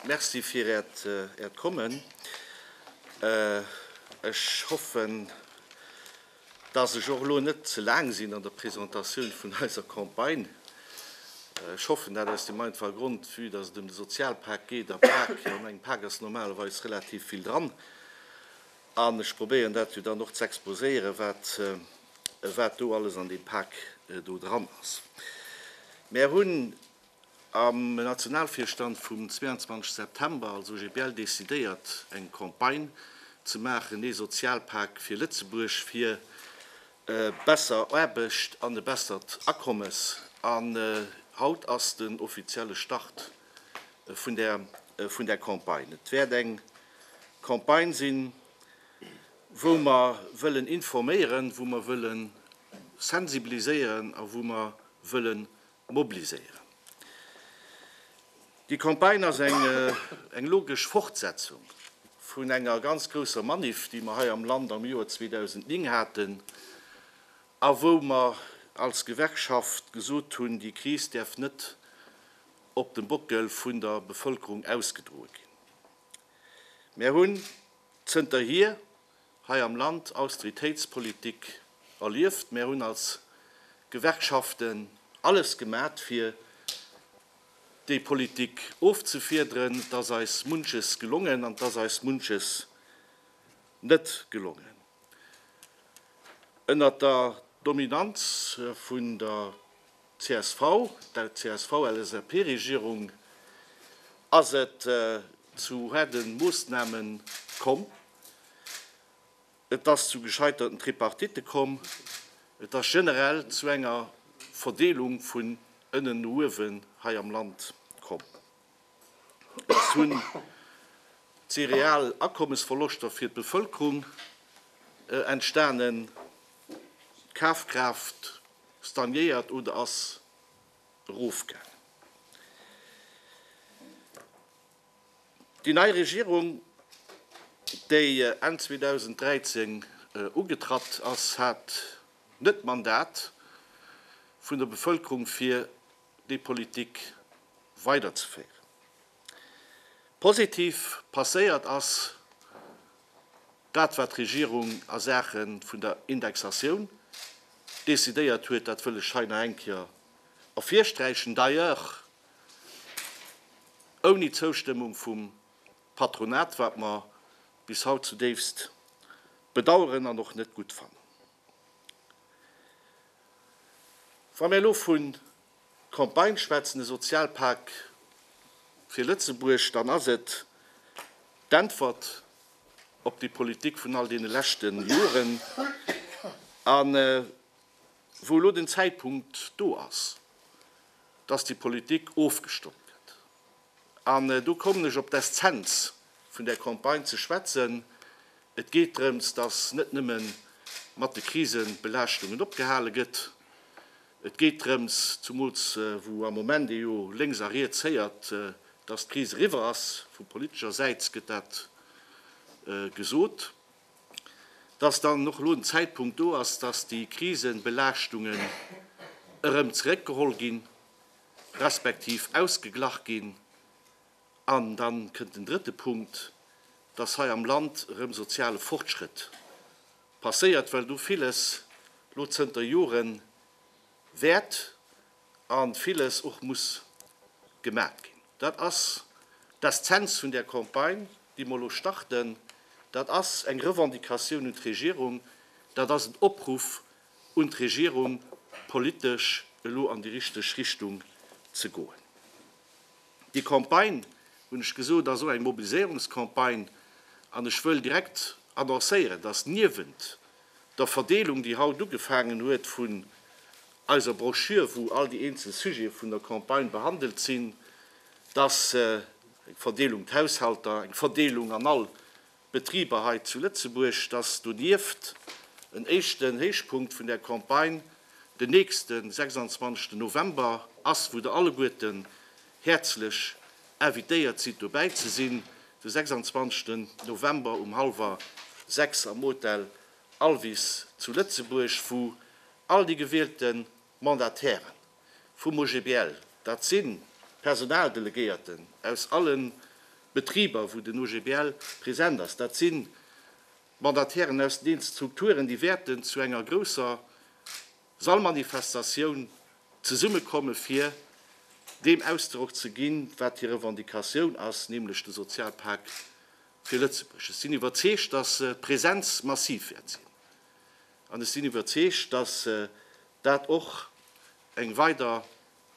Merci fir Äert Äert Kommen. Ech hoffen, Dass ech och elo net ze laang sinn an der Presentatioun vun eiser Campagne. Ech hoffen dat aus deem einfache Grond, vue dass et ëm de Sozialpak geet, a Pak, an engem Pak ass normalerweis relativ vill dran, an ech probéieren dat jo dann och ze exposéieren, wat, wat do alles an deem Pak do dran ass. Mär hunn. Am Nationalvirstand vum 22 September, also GBL, decidéiert eng Campagne ze maachen, ee Sozialpak fir Lëtzebuerg, fir besser Aarbecht an e bessert Akommes. An haut ass den offizielle Start vun där Campagne. Et wäert eng Campagne sinn, wou mer wëllen informéieren, wou mer wëlle sensibiliséieren a wou mer wëlle mobliséieren. Déi Campagne ass eng logesch Fortsetzung vun enger ganz grousser Maniff, déi mer hei am Land am Joer 2009 haten a wou mer als Gewerkschaft gesot hunn, déi Kris däerf net op dem Bockel vun der Bevëlkerung ausgedroe ginn. Mär hunn zënterhier, hei am Land Austeritéitspolitik erlieft. Mär hunn als Gewerkschaften alles gemat fir déi Politik ofzefiederen. Et ass eis munches gelongen an et ass eis munches net gelongen. Ënnert der Dominanz vun der csv, der CSV-LSAP-Regierung ass et zu haarde Moossname komm. Et ass zu gescheiterten Tripartite komm. Et ass generell zu enger Verdeelung vun ënnen no uewen hei am Land komm. Et hunn si real Akommesverloschter fir d'Bevëlkerung entstanen. D'Kafkraaft stagnéiert oder ass erofgaangen. Déi nei Regierung, déi Enn 2013 ugetratt ass, hat net d'Mandat vun der Bevëlkerung fir déi Politik weiderzeféieren. Positiv passéiert ass dat, wat d'Regierung a Saache vun der Indexatioun decidéiert huet, dat wëll ech hei nach eng Kéier ervirsträichen. D'ailleurs, ouni d'Zoustëmmung vum Patronat, wat mer bis haut zudéifst bedauern an och net gutt fannen. Wa mir elo vu Campagne schwätzen, e Sozialpak fir Lëtzebuerg, dann ass et d'Äntwert op déi Politik vun all deene leschte Joren. An wou elo den Zäitpunkt do ass, dass déi Politik ofgestommt gëtt. An do kommen ech op d'Eszenz vun där Campagne ze schwätzen. Et geet drëms, dass net nëmme mat de Krisebelaaschtungen opgehale gëtt. Et geet drëms, zumools wou am Moment ee jo lénks a riets héiert, dass d'Kris eriwwer ass, vu politescher Säit gëtt dat gesot, dass dann och elo den Zäitpunkt do ass, dass déi Krisebelaaschtungen erëm zeréckgeholl ginn, respektiv ausgeglach ginn. An da kënnt den drëtte Punkt, dass hei am Land erëm soziale Fortschrëtt passéiert, well do villes elo zënter Joren wäert a villes och muss gemat ginn. Dat ass d'Eszenz vun där Campagne, déi mer elo starten. Dat ass eng Revendicatioun un d'Regierung, dat ass en Opruff un d'Regierung, politesch elo an déi richteg Richtung ze goen. Déi Campagne, hunn ech gesot, ass och eng Mobiliséierungscampagne an ech wëll direkt annoncéieren, dass niewent der Verdeelung, déi haut ugefaangen huet, vun eiser Broschür, wou all déi eenzel Sujete vun der Campagne behandelt sinn, dass eng Verdeelung un d'Haushalter, eng Verdeelung an all d'Betriber hei zu Lëtzebuerg, dass donieft en éischten Héichpunkt vun där Campagne den nächsten 26 November ass, wou Der alleguerten häerzlech invitéiert sidd dobäi ze sinn, de 26 November um hallwer sechs am Hotel Alvis zu Lëtzebuerg, wou all déi gewielte Mandatäre vum OGBL, dat si Personaldelegéierten aus alle Betriber, wou den OGBL present ass, dat si Mandatären aus den eenzel Strukturen, déi wäerten zu enger grousser Sallmanifestatioun zesummekomme fir deem Ausdrock ze ginn, wat hir Revendicatioun ass, nämlech de Sozialpak Fir Lëtzebuerg. Ech sinn iwwerzeegt, datt d'Presenz massiv wäert sinn, an ech sinn iwwerzeegt, datt dat och eng weider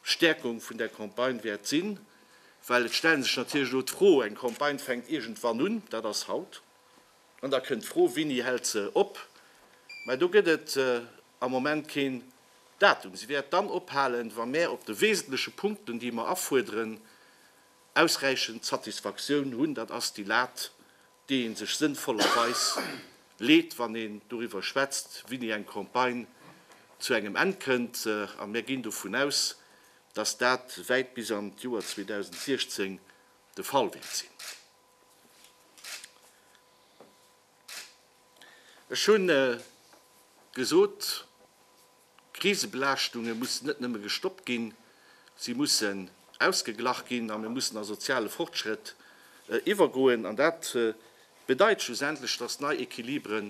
Stäerkung vun där Campagne wäert sinn, well et stellen sech natierlech elo d'Fro, eng Campagne fänkt iergendwann un, dat ass haut, an da kënnt d'Fro, Wini hält se op? Mä do gëtt et am Moment keen Datum. Si wäert dann ophalen, wa mär op de wesentleche Punkten, déi mer afuerderen, ausräichend Satisfaktioun hunn, dat ass déi Lat, déi ee sech sënnvollerweis leet, wann een doriwwer schwätzt, wéini eng Campagne zu engem Enn kënnt. A mir ginn dovun aus, dass dat wäit bis an d'Joer 2016 de Fall wäert sinn. Ech hu gesot, Krisebelaaschtunge mussen net nëmme gestoppt ginn, si mussen ausgeglach ginn a mir mussen a soziale Fortschrëtt iwwergoen. An dat bedeit schlussendlech, dass nei Equilibre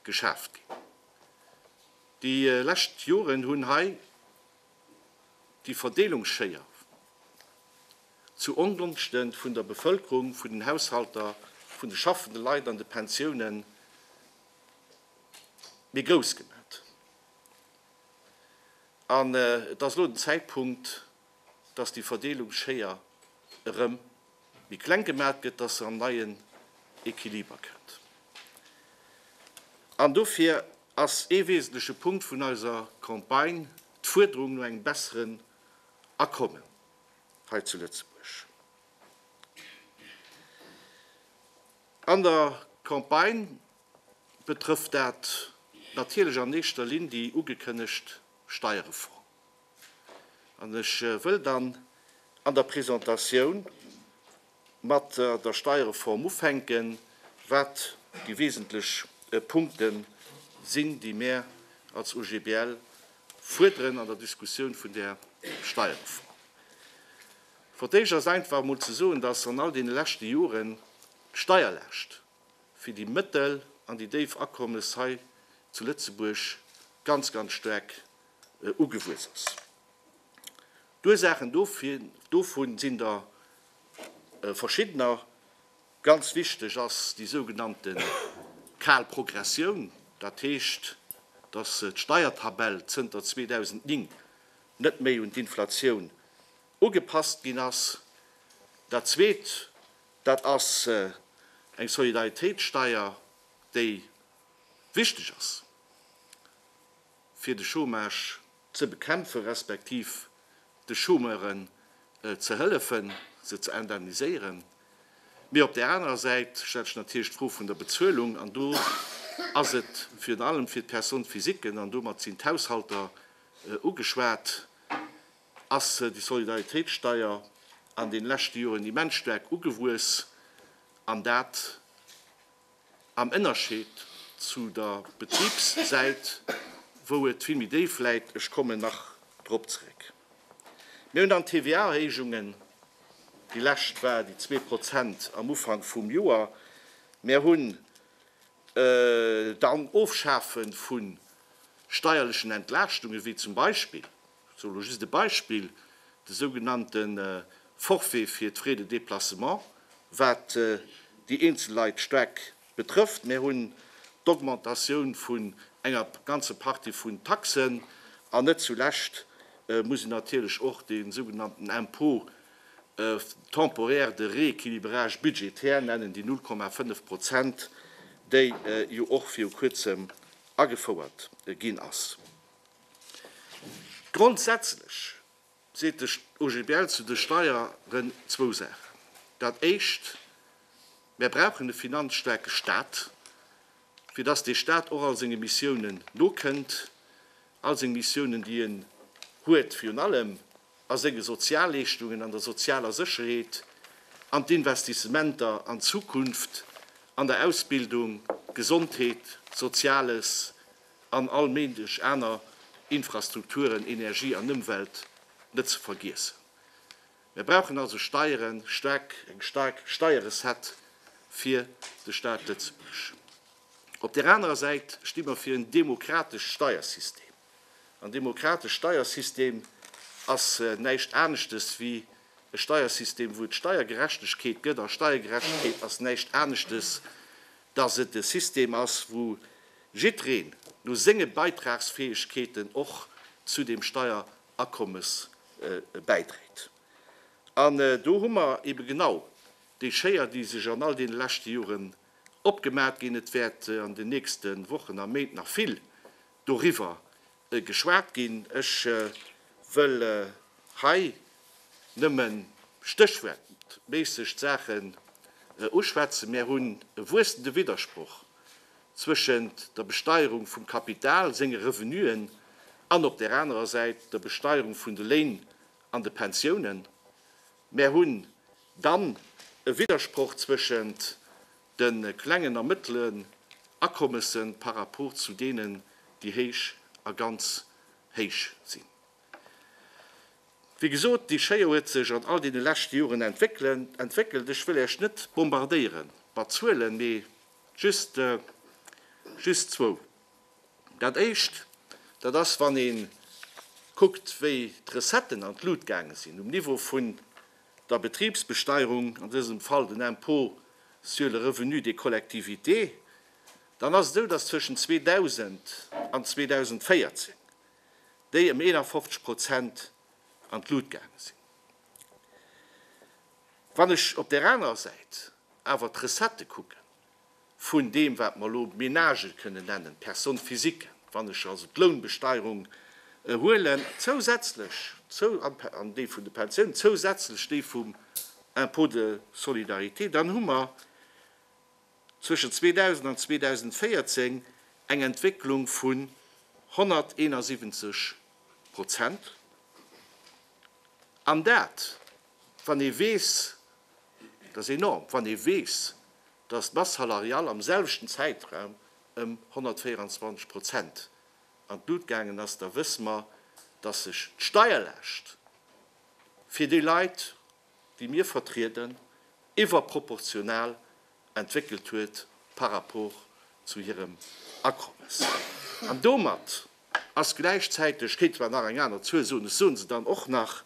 geschaaft ginn. Déi lescht Joren hunn hei déi Verdeelungsschéier zu Ongonschte vun der Bevëlkerung, vun den Haushalter, vun de schaffende Leit an de Pensiounen, méi grouss gemat. An et ass elo den Zäitpunkt, dass déi Verdeelungsschéier erëm méi kleng gemat gëtt, dass se an neien Equiliber kënnt. An dofir ass ee wesentleche Punkt vun eiser Campagne d'Fuerderung no engem besseren Akommen hei zu Lëtzebuerg. An der Campagne betrëfft dat natierlech an éischter Linn déi ugekënnegt Steierreform. An ech wëll dann an der Presentatioun mat der Steierreform ufänken, wat déi wesentlech Punkte sinn, déi mär als OGBL fuerderen an der Diskussioun vun där Steierreform. Fir d'éischt ass einfach emol ze soen, dass an all deene leschte Joren d'Steierlaascht fir déi mëttel an déi déif Akommes hei zu Lëtzebuerg ganz, ganz staark ugewuess ass. D'Ursaachen dovun sinn der verschiddener. Ganz wichteg ass déi sougenannte kal Progressioun, dat heescht, dass d'Steiertabell zënter 2009 net méi un d'Inflatioun ugepasst ginn ass. Dat Zweet, Dat ass eng Solidaritéitssteier, déi wichteg ass, fir de Chômage ze bekämpfen, respektiv de Chômeuren ze hëllefen, se ze indemniséieren. Mee op där anerer Säit stellt sech natierlech d'Fro vun der Bezuelung. An do ass et virun allem fir d'Personnes physiquen, an domat sinn d'Haushalter ugeschwat, ass déi Solidaritéitssteier an den leschte Joren immens staark ugewuess, an dat am Ennerscheed zu der Betribssäit, wou et vill méi déif läit. Ech kommen nach drop zréck. Mir hunn dann d'TVA-Erhéijungen, déi lescht war déi zwee Prozent am Ufank vum Joer, mir hunn dann Ofschafe vu steierlechen Entlaaschtunge wéi zum Beispill ech soe lo just e Beispill, de sougenannte Forfait fir d'Frais de déplacement, wat déi eenzel Leit staark betrëfft. Mir hunn d'Augmentatioun vun enger ganze Partie vun Taxen. An net zu lescht muss een natierlech och de sougenannten Impôt temporaire de rééquilibrage budgétaire nennen, déi 0,5 Prozent, déi jo och viru Kuerzem agefouert ginn ass. Grondsätzlech seet de OGBL zu de Steieren zwou Saachen. Dat Éischt, Mär brauchen e finanzstaarke Stat, fir dass dee Stat och all senge Missiounen nokënnt, all seng Missiounen, déi en huet, virun allem a senge Sozialleeschtungen, an der sozialer Sécherheet, an d'Investissementer an d'Zukunft, an der Ausbildung, Gesondheet, Soziales, an all Méindeg aner Infrastrukturen, Energie an Ëmwelt net ze vergiessen. Mir brauchen also Steieren, staark, eng staark Steierrecette fir de Staat Lëtzebuerg. Op där anerer Säit sti mer fir en demokratescht Steiersystem. En demokratescht Steiersystem ass näischt aneschtes wéi e Steiersystem, wou et Steiergerechtegkeet gëtt. A Steiergerechtegkeet ass näischt aneschtes, dass et e System ass, wou Jiddreen no senge Beitragsfäegkeeten och zu deem Steierakommes bäidréit. An do hu mer eebe genau déi Schéier, déi sech an all deene leschte Joren opgemat ginn. Et wäert an den nächste Wochen a Méint nach vill doriwwer Geschwat ginn. Ech wëll hei nëmme stéchwuertméisseg d'Saachen uschwätzen. Mir hunn e wuessende Widdersproch zwëschent der Besteierung vum Kapital, senge Revenuen, an op där anerer Säit der Besteierung vun de Léin an de Pensiounen. Mir hunn dann e Widdersproch zwëschent de klengen a mëttelen Akommessen par rapport zu deenen, déi héich a ganz héich sinn. Wéi gesot, déi Schéier huet sech an all deene leschte Joren entwéckelt. Ech wëll Äech net bombardéiere mat Zuelen, mee just, just zwou. Dat Éischt, dat ass, wann ee kuckt, wéi d'Recetten an d'Lut gaange sinn um Niveau vun der Betribsbesteierung, an dësem Fall den Impôt sur le revenu des collectivités, dann ass et esou, dass zwëschen 2000 an 2014 déi ëm 51 Prozent an d'Lut gaange sinn. Wann ech op där anerer Säit awer d'Recettë kucken, vun deem, wat mer elo Ménage kënnen nennen, Personnes physiques, wann ech also d'Lounbesteierung huelen, zousätzlech zou, an déi vun de Pensiounen, zousätzlech déi vum Impôt de solidarité, dann hu mer zwëschen 2000 an 2014 eng Entwécklung vun 171 Prozent. An dat Wann ee weess, dat ass enorm, wann ee weess, datt d'Masse salariale am selwechten Zäitraum ëm 124 Prozent an d'Lut gaangen ass, da wësse mer, datt sech d'Steierlaascht fir déi Leit, déi mir vertrieden, iwwerproportional entwéckelt huet par rapport zu hirem Akommes. An domat ass gläichzäiteg, kéinte mer nach eng aner Zuel soen, ech soe se dann och nach,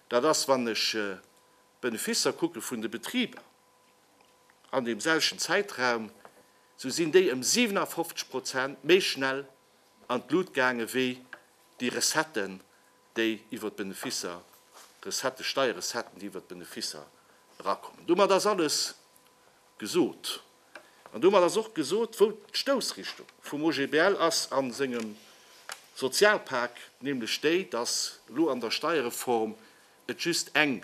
dat ass, wann ech d'Benefisser kucke vun de Betriber an deem selwechten Zäitraum, sou sinn déi ëm 57 Prozent méi schnell an d'Lut gaange wéi déi Recetten, déi iwwer d'Beneficer, Recetten, Steierrecetten, déi iwwer d'Beneficer erakommen. Domat ass alles gesot. An domat ass och gesot, wou d'Stoussrichtung vum OGBL ass a sengem Sozialpak, nämlech déi, dass elo an der Steierreform et just eng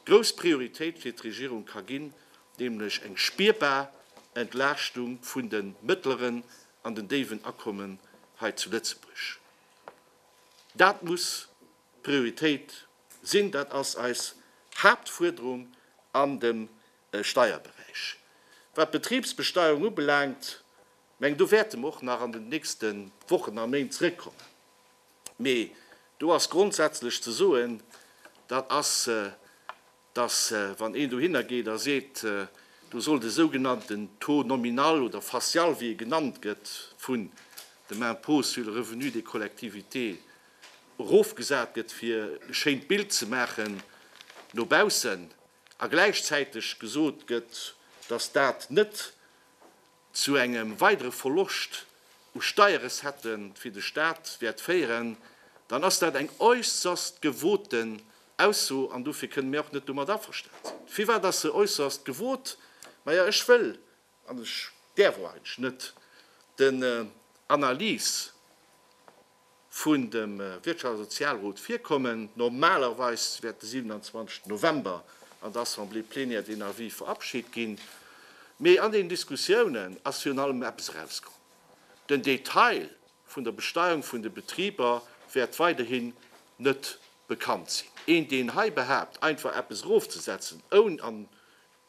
grouss Prioritéit fir d'Regierung ka ginn, nämlech eng spierbar Entlaaschtung vun de mëttleren an den déiwen Akommen hei zu Lëtzebuerg. Dat muss d'Prioritéit sinn, dat ass eis Haaptfuerderung an dem Steierberäich. Wat d'Betribsbesteuerung ubelaangt, mengen, do wäerte mer och nach an den nächste Wochen a Méint zrëckkommen, mee do ass grondsätzlech ze soen, dat ass dass wann een dohinner geet a seet, do soll de sougenannten Taux nominal oder facial, wéi e genannt gëtt, vun dem Impôt sur le revenu des collectivités erofgesat gëtt, fir e schéint Bild ze maachen no baussen, a gläichzäiteg gesot gëtt, dass dat net zu engem weidere Verloscht u Steierrecette fir de Staat wäert féieren, dann ass dat eng äusserst gewoten Ausso an dofir kënne mir och net domat averstan sinn. Firwat ass se äusserst gewot? Maja, ech wëll, an ech däerf och eigentlech net, den Analyse, vun dem Wirtschafts a Sozialrot virkommen. Normalerweis wäert de 27 November an der Assemblée plénière deen Avis verabschit ginn. Mee an deenen Diskussiounen ass virun allem eppes erauskomm, Den Detail vun der Besteuerung vun de Betriber wäert weiderhin net bekannt sinn. Een, deen hei behaapt, einfach eppes erofzesetzen, oun an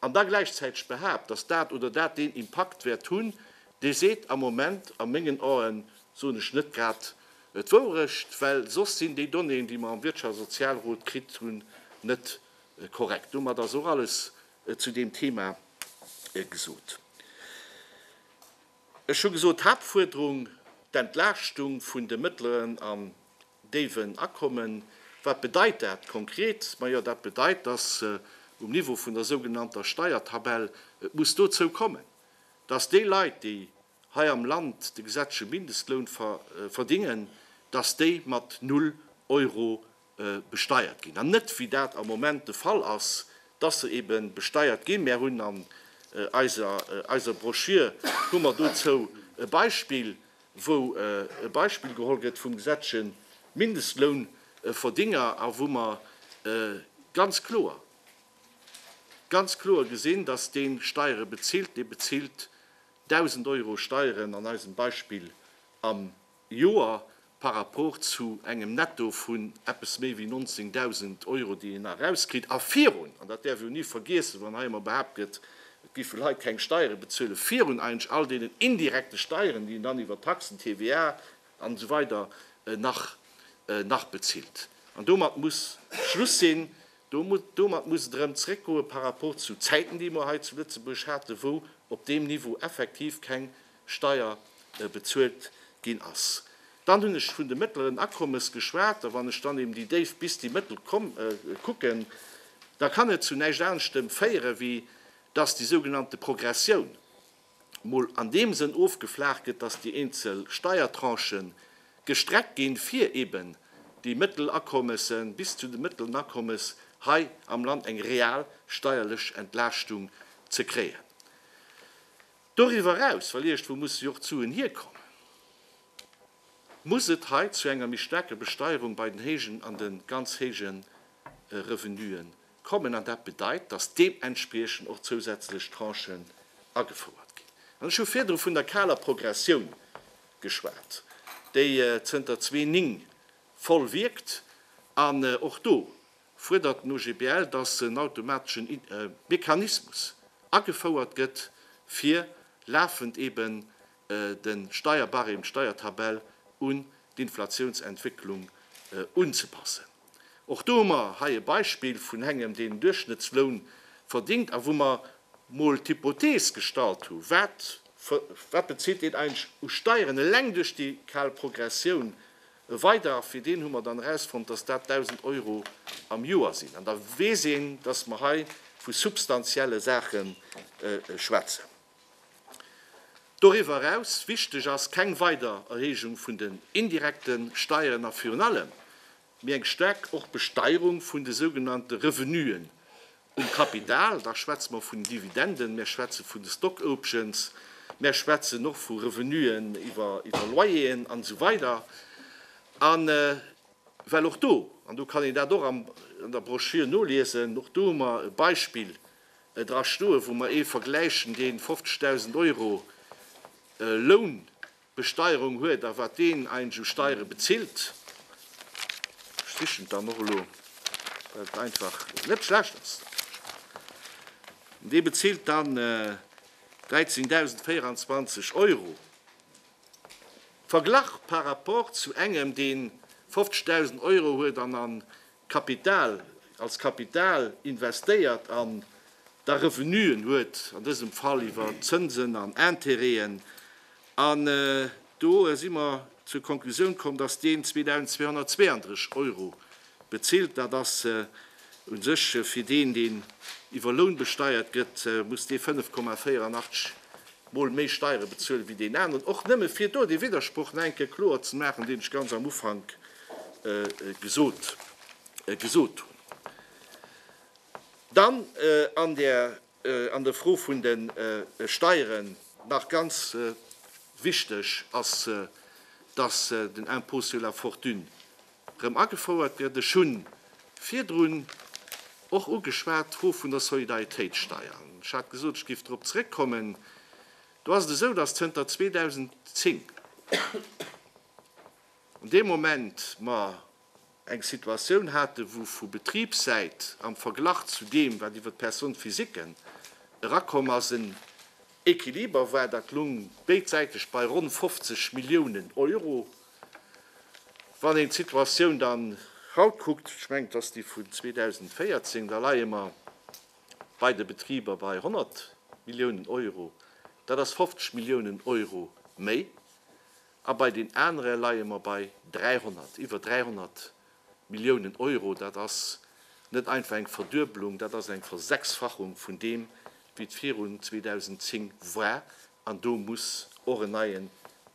an da gläichzäiteg behaapt, dass dat oder dat deen Impakt wäert hunn, dee seet am Moment a mengen Aen, soen ech, net grad d'Wourecht, well soss sinn déi Donnéeën, déi mer am Wirtschafts a Sozialrot kritt hunn, net korrekt. Domat ass och alles zu deem Thema gesot. Ech hu gesot, Haaptfuerderung, d'Entlaaschtung vun de mëttleren an Déiwen akommen. Wat bedeit dat konkret? Majo, dat bedeit, dass um Niveau vun der sougenannter Steiertabell et muss dozou kommen, dass déi Leit, déi hei am Land de gesetzleche Mindestloun verdingen, dass déi mat null Euro besteiert ginn an net, wéi dat am Moment de Fall ass, dass se ebe besteiert ginn. Mär hunn an eiser Broschür hu mer dozou e Beispill, wou e Beispill geholl gëtt vum gesetzleche Mindestlounverdinger a wou mer ganz kloer, ganz kloer gesinn, dass dee Steiere bezilt, dee bezilt 1.000 Euro Steieren an eisem Beispill am Joer par rapport zu engem Netto vun eppes méi wéi 19.000 Euro, déi een nach erauskritt. A virun, an dat däerf een ni vergiessen, wann hei ëmmer behaapt gëtt, Et gi vun hei keng Steiere bezuele virun eigentlech all deenen indirekte Steieren, déi een dann iwwer Taxen, TVA an esou weider nach nach bezilt. An domat muss Schluss sinn. Do domat muss et erëm zréckgoe par rapport zu Zäiten, déi mer hei zu Lëtzebuerg haten, wou op deem Niveau effektiv keng Steier bezuelt ginn ass. Dann hunn ech vun de mëttleren Akommes geschwat. A wann ech dann eben déi déif bis déi mëttel kucken, da kann et zu näischt aneschtem féieren, wéi dass déi sougenannte Progressioun mol an deem Sënn ofgeflaach gëtt, dass déi eenzel Steiertranchë gestreckt ginn, fir eben déi mëttel Akommese bis zu de mëttelen Akommes hei am Land eng real steierlech Entlaaschtung ze kréien. Doriwwer eraus, well iergendwou musse jo och d'Suen hierkommen, muss et hei zu enger méi staarker Besteierung bei den héijen an de ganz héije Revenuen kommen. An dat bedeit, dass deementspriechend och zousätzlech Tranchen agefouert ginn. An ech hu virdru vun der kaler Progressioun geschwat, déi zënter zwee Ning voll wierkt. An och do fuerdert den OGBL, datt en automateschen Mechanismus agefouert gëtt, fir lafend eben de Steierbarème, d'Steiertabell un d'Inflatiounsentwécklung unzepassen. Och do hu mer hei e Beispill vun engem, deen en Duerchschnëttsloun verdéngt a wou mer mol d'Hypothees gestallt hu wat, wat bezilt een eigentlech u Steieren eleng duerch déi kal Progressioun E Weidaach, fir deen hu mer dann erausfonnt, dass dat 1.000 Euro am Joer sinn. An da weess een, dass mer hei vu substantielle Saache schwätzen. Doriwwer eraus wichteg ass keng weider Erhéijung vun den indirekte Steieren a virun allem, mee eng staark och Besteierung vun de sougenannte Revenuen Um Kapital, da schwätze mer vun Dividenden, mir schwätze vun de Stock Options, mir schwätzen och vu Revenuen iwwer Loyeren an esou weider. A well och do, an do kann een dat och an der Broschür noliesen, och do hu mer e Beispill dra stoen, wou mer ee vergläichen, dee 50.000 Euro Loun Besteierung huet a wat deen eigentlech u Steiere bezilt. Ech sichen et dann och elo, well et einfach net schlecht ass. Dee bezilt dann 13.024 Euro. Verglach par rapport zu engem, dee 50.000 Euro huet an an Kapital als Kapital investéiert an da Revenuen huet, an dësem Fall iwwer Zënsen an Intérêten, an do si mer zur Konklusioun komm, dass deen 2.232 Euro bezilt. Dat ass u sech fir deen, deen iwwer Loun besteiert gëtt, muss dee 5,84 Mol méi Steiere bezuelen, wéi deen aneren. Och nëmme fir do dee Widdersproch nach eng Kéier kloer ze maachen, deen ech ganz am Ufank gesot gesot hunn. Dann an der an der Fro vun de Steieren nach ganz wichteg ass, dass den Impôt sur la fortune erëm agefouert gëtt. Ech hu virdrun och ugeschwat d'Fro vun der Solidaritéitssteier. Ech hat gesot, ech géif drop zrëckkommen. Do ass et esou, dass zënter 2010, An deem Moment mer eng Situatioun haten, wou vu Betribssäit am Verglach zu deem, wat iwwer d'Personne physique erakomm ass, en Equiliber war, dat lung béidsäiteg bei ronn 50 Milliounen Euro. Wann een d'Situatioun dann haut kuckt, ech mengen, et ass déi vun 2014, da leie mer bei de Betriber bei 100 Milliounen Euro. Dat ass 50 Milliounen Euro méi. A bei den anere leie mer bei 300, iwwer 300 Milliounen Euro. Dat ass net einfach eng Verduebelung, dat ass eng Versechsfachung vun deem, wéi et virun 2010 war. An do muss och en neien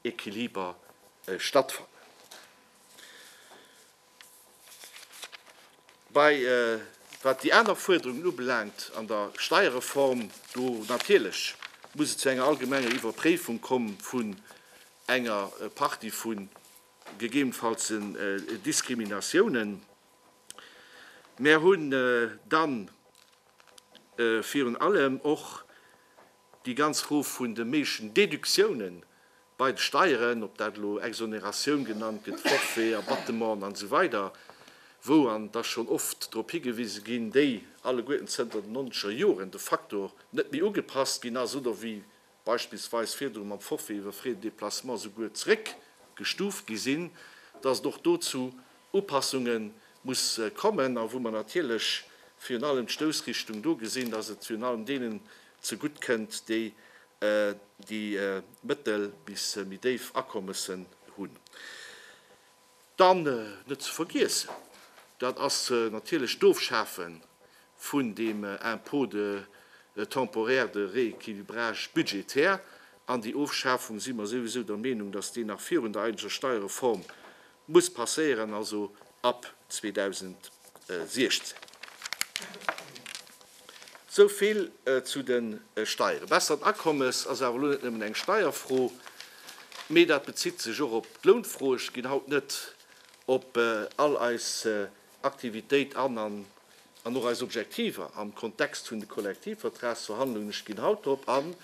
Equiliber stattfannen. Bei wat déi aner Fuerderungen ubelaangt an der Steierreform, do natierlech muss et zu enger allgemenger Iwwerpréifung komm vun enger Partie vu gegebenfallsen Diskriminatiounen. Mär hunn dann virun allem och Déi ganz Fro vun de méiglechen Deductiounen bei de Steieren, ob dat elo Exonératioun genannt gëtt, Forfait, Abattement an esou weider, wou, an et ass schonn oft drop higewise ginn, déi alleguerten zënter den nonzeger Joren de facto net méi ugepasst ginn ass oder wéi beispillsweis virdru mam Forfait iwwer Frais de déplacement souguer zeréckgestuuft gi sinn, dass et och do zu Upassunge muss kommen a wou mer natierlech virun allem d'Stoussrichtung do gesinn, dass et virun allem deenen Zegutt kënnt, déi déi mëttel bis méi déif Akommessen hunn. Dann net ze vergiessen, dat ass natierlech d'Ofschafe vun deem Impôt de temporaire de rééquilibrage budgétaire. An déi Ofschafung si mer souwisou der Meenung, datt déi nach virun der eigentlecher Steierreform muss passéieren, also ab 2016. Esou vill zu de Steieren. Bessert Akommes ass awer elo net nëmmen eng Steierfro, mee dat bezitt sech och op d'Lounfro. Ech ginn haut net op all eis Aktivitéit an an och eis Objektiver am Kontext vun de Kollektivvertragsverhandlungen, ech ginn haut drop an,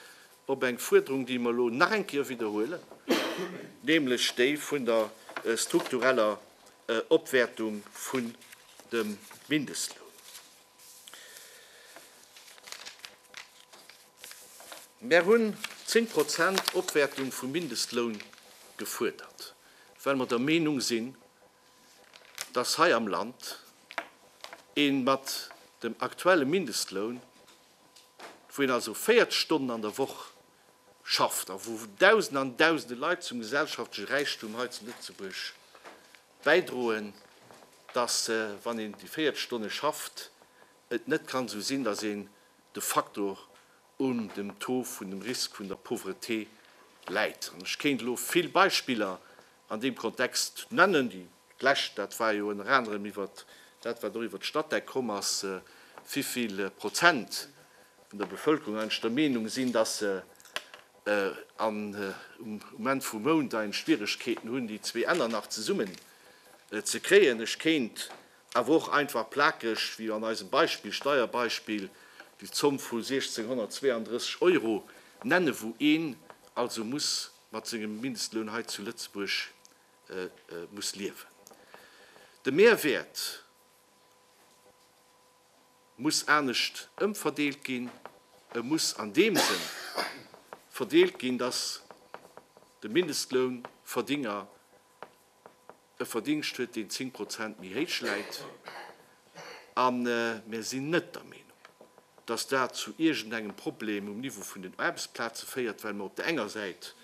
op eng Fuerderung, déi mer elo nach eng Kéier widderhuelen, nämlech déi vun der struktureller Opwäertung vun dem Mindestloun. Mer hunn zéng Prozent Opwäertung vum Mindestloun gefuerdert, well mer der Meenung sinn, dass hei am Land ee mat dem aktuelle Mindestloun, wou een also 40 Stonnen an der Woch schafft a wou Dausende an Dausende Leit zum gesellschaftleche Räichtum hei zu Lëtzebuerg bäidroen, dass, wann een déi 40 Stonne schafft, et net kann esou sinn, dass een de facto un dem Taux vun dem Risk vun der Pauvreté läit. An ech kéint elo vill Beispiller An deem Kontext nennen, déi d'lescht, dat war jo ënner anerem iwwer dat, wat och iwwer d'Statec komm ass, wéi vill Prozent vun der Bevëlkerung eigentlech der Meenung sinn, dass se um Enn vum Mount eigentlech Schwieregkeeten hunn, déi zwee Enner nach zesummen ze kréien. Ech kéint awer och einfach plakeg, wéi an eisem Beispill, Steierbeispill, déi Zomm vu 1.632 Euro nennen, wou een also muss mat sengem Mindestloun hei zu Lëtzebuerg muss liewen. De Mehrwäert muss anescht ëmverdeelt ginn. E muss an deem Sënn verdeelt ginn, dass de Mindestlounverdénger e Verdingscht huet, deen 10 Prozent méi héich läit. A mir sinn net der Meenung, dass dat zu iergendengem Problem um Niveau vun den Aarbechtsplaze féiert, well mer op der enger Säit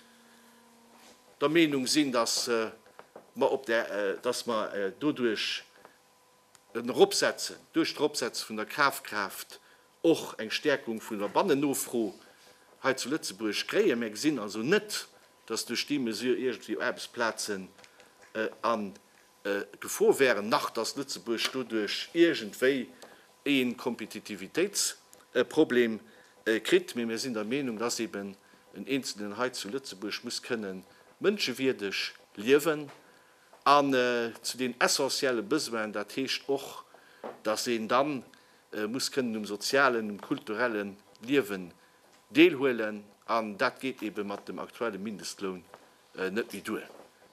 der Meenung sinn, dass mer op där, dass mer doduerch en Eropsetzen, duerch d'Eropsetze vun der Kafkraaft och eng Stäerkung vun der Bannennofro hei zu Lëtzebuerg kréien. Mir gesinn also net, dass duerch déi Mesure iergendwéi Aarbechtsplazen a Gefor wären, nach dass Lëtzebuerg doduerch iergendwéi ee Kompetitivitéitsproblem kritt. Mee mir sinn der Meenung, dass eben en Eenzelnen hei zu Lëtzebuerg muss kënne mënschewierdeg liewen an zu den essentielle Besoinen, dat heescht och, dass een da muss kënnen um sozialen, um kulturelle Liewe Deelhuelen, an dat geet eebe mat dem aktuelle Mindestloun net méi duer.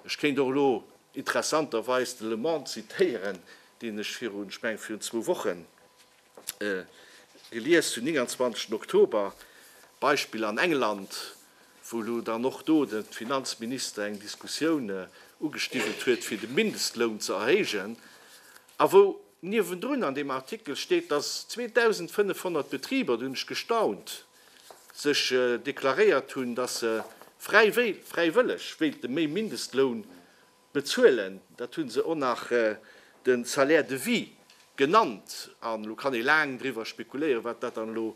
Ech kéint och elo interessanterweis de Le Monde zitéieren, deen ech virun, ech mengen, virun zwou Wochen gelies hunn, 29 Oktober, Beispill an England, wou elo dann och do de Finanzminister eng Diskussioun ugestiwwelt huet, fir de Mindestloun ze erhéijen. A wou niewendrun an deem Artikel steet, dass 2.500 Betriber, do hunn ech gestaunt, sech deklaréiert hunn, dass se fräiwëlleg wéilte méi Mindestloun bezuelen, dat hu se och nach de Salaire de vie genannt. An elo kann ee laang driwwer spekuléieren, wat dat dann elo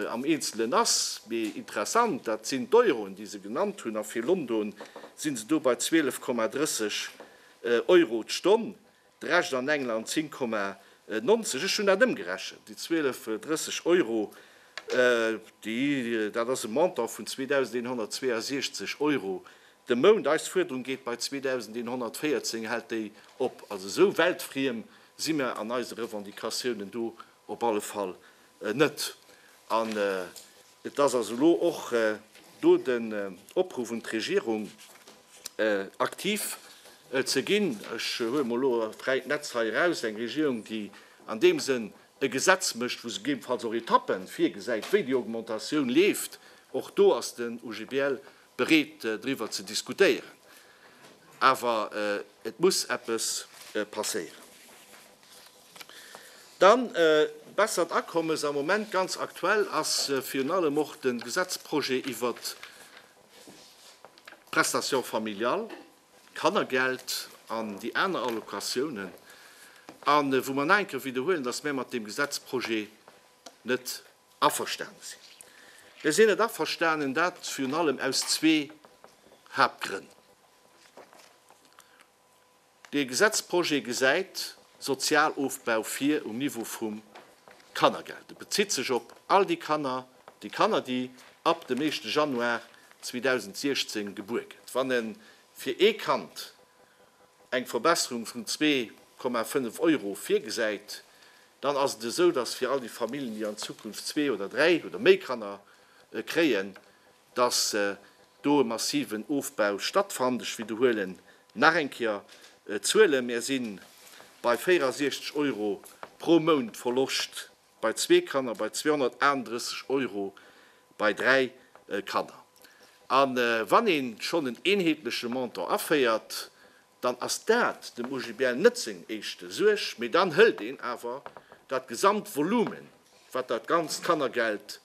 am Eenzelen ass, mee interessant, dat sinn d'Euroen, déi se genannt hunn. A fir London si se do bei 12,30 Euro d'Stonn. D'Recht an England 10,90. Ech hunn dat ëmgerechent, déi 12, 30 Euro, déi, dat ass e Montant vun 2.162 Euro de Mount. Eis Fuerderung geet bei 2.114, hält déi op. Also esou weltfriem si mir an eise Revendicatiounen do op alle Fall net. Et ass also elo och do den Opruff un d'Regierung, aktiv ze ginn. Ech huele mol elo fräit Netz hei eraus, eng Regierung, déi an deem Sënn e Gesetz mécht, wou se gegebenfalls och Etappe virgesäit, wéi déi Augmentatioun leeft. Och do ass den OGBL bereet, driwwer ze diskutéieren. Awer et muss eppes passéieren. Dann bessert Akommes, am Moment ganz aktuell ass virun allem och de Gesetzprojet iwwert d'Prestation familiale, d'Kannergeld an déi aner Allocatiounen, a wou mer nach eng Kéier widderhuelen, dass mär mat deem Gesetzprojet net averstane sinn. Mär sinn net averstanen, dat virun allem aus zwee Haaptgrënn. Dee Gesetzprojet gesäit Sozialofbau vir um Niveau vum Kannergeld. Et bezitt sech op all déi Kanner, déi Kanner, déi ab dem éischte Januar 2016 gebuer gëtt. Wann e fir ee Kand eng Verbesserung vun zwee Komma fënnef Euro virgesäit, dann ass et esou, dass fir all déi Familljen, déi an Zukunft zwee oder dräi oder méi Kanner kréien, dass do e massiven Ofbau stattfannt. Ech widderhuele nach eng Kéier d'Zuelen, Mir si bei 64 Euro pro Mount Verloscht bei zwee Kanner, bei 238 Euro bei dräi Kanner. A wann ee schonn en eenheetleche Montant aféiert, dann ass dat dem OGBL net seng éischte Suerg, mee dann hëlt een awer dat gesamt Volume wat dat ganzt Kannergeld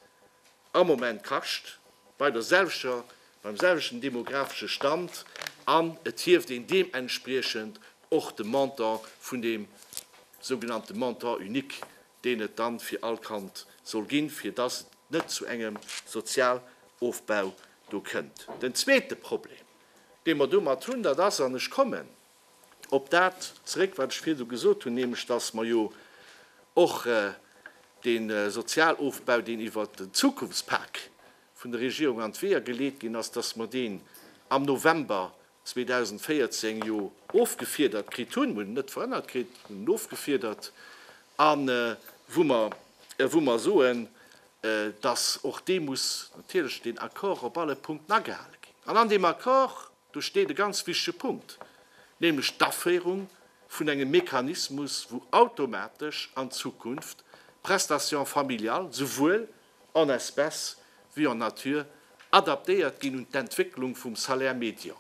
am Moment kascht, bei der selwechter, beim selwechten demographesche Stand, an et hieft een deementspriechend och de Montant vun deem sougenannte Montant unique, deen et dann fir all Kand soll ginn, fir dass et net zu engem Sozialofbau do kënnt. Den zweete Problem, dee mer domat hunn, dat ass, an ech kommen op dat zeréck, wat ech virdu gesot hunn, nämlech datt mer jo och dee Sozialofbau, deen iwwer den Zukunftspak vun der Regierung an d'Weeër geleet ginn ass, datt mer deen am November 2014 jo ofgefiedert kritt hunn, mir hunn en net verhënnert kritt, mir hunn en ofgefiedert, a wou mer soen, dass och dee muss natierlech, deen Accord, op alle Punkten agehale ginn. An an deem Accord do steet e ganz wichtige Punkt, nämlech d'Aféierung vun engem Mechanismus, wou automatesch an Zukunft d'Prestations familiales souwuel en espèces wéi en nature adaptéiert ginn un d'Entwécklung vum Salaire médian.